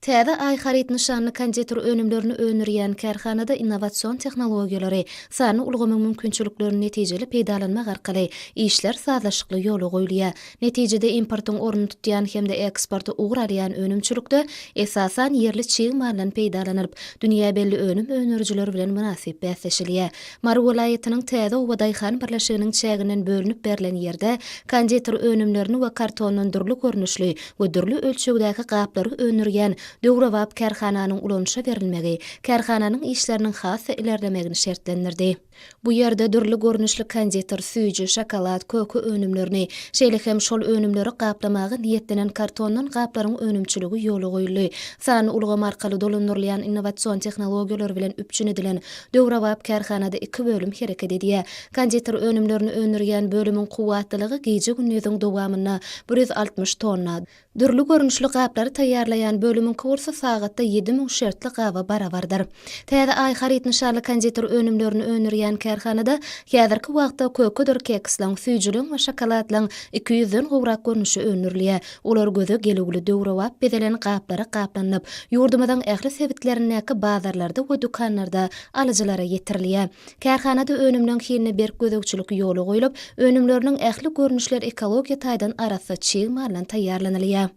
Täze Aý haryt nyşanly konditer önümlerini öndürýän kärhanada innowasion tehnologiýalary, sanly ulgamyň mümkinçiliklerini netijeli peýdalanmak arkaly işler sazlaşykly ýola goýulýar. Netijede importyň ornuny tutýan hem-de eksporta ugur alýan önümçilikde, esasan, ýerli çig maldan peýdalanylyp, dünýä belli önüm öndürijiler bilen mynasyp bäsleşilýär. Mary welaýatynyň Täze oba daýhan birleşiginiň çäginden bölünip berlen ýerde konditer önümlerini we kartondan dürli görnüşli we dürli ölçegdäki gaplary öndürýän döwrebap kärhananyň ulanyşa berilmegi kärhananyň işleriniň has-da ilerlemegini şertlendirdi. Bu ýerde dürli görnüşli konditer, süýji, şokolad, köke önümlerini, şeýle hem şol önümleri gaplamaga niýetlenen kartondan gaplaryň önümçiligi ýola goýuldy. Sanly ulgam arkaly dolandyrylýan innowasion tehnologiýalar bilen üpjün edilen Döwrebap kärhanada iki bölüm hereket edýär. Konditer önümlerini öndürýän bölümiň kuwwatlylygy gije-gündiziň dowamynda bir ýüz altmyş tonna. Dürli görnüşli gaplary taýýarlaýan bölümiňki bolsa sagatda ýedi müň şertli gaba barabardyr. Täze Aý haryt nyşanly konditer önümlerini öndürýän kärhanada häzirki wagtda kökedir keksleň, süýjüleň we şokoladlaň iki ýüzden gowrak görnüşi öndürilýär. Olar göze gelüwli döwrebap bezelen gaplara gaplanyp, ýurdumyzyň ähli sebitlerindäki bazarlarda we dükanlarda alyjylara ýetirilýär. Kärhanada önümleň hiline berk gözegçilik ýola goýlup, önümleriniň ähli görnüşleri ekologiýa taýdan arassa çig maldan taýýarlanylýar.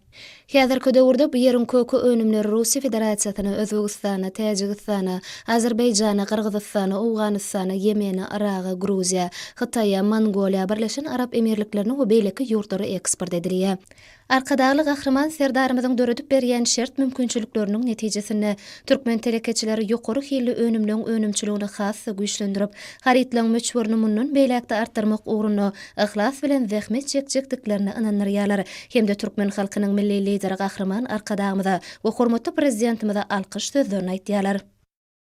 Häzirki döwürde bu ýeriň köke önümleri Russiýa Federasiýasyna, Özbegistana, Täjigistana, Azerbaýjana, Gyrgyzystana, Owganystana, Ýemene, Yraga, Gruziýa, Hytaýa, Mongoliýa, Birleşen Arap Emirliklerine we beýleki ýurtlara eksport edilýär. Arkadagly Gahryman Serdarymyzyň döredip berýän şert-mümkinçilikleriniň netijesinde, türkmen telekeçileri ýokary hilli önümleň önümçiligini has-da güýçlendirip, harytlaň möçberini mundan beýläk-de artdyrmak ugrunda yhlas bilen zähmet çekjekdiklerine ynandyrýarlar hem-de türkmen halkynyň Milli Lideri Gahryman Arkadagymyza we hormatly Prezidentimize alkyş sözlerini aýtýarlar.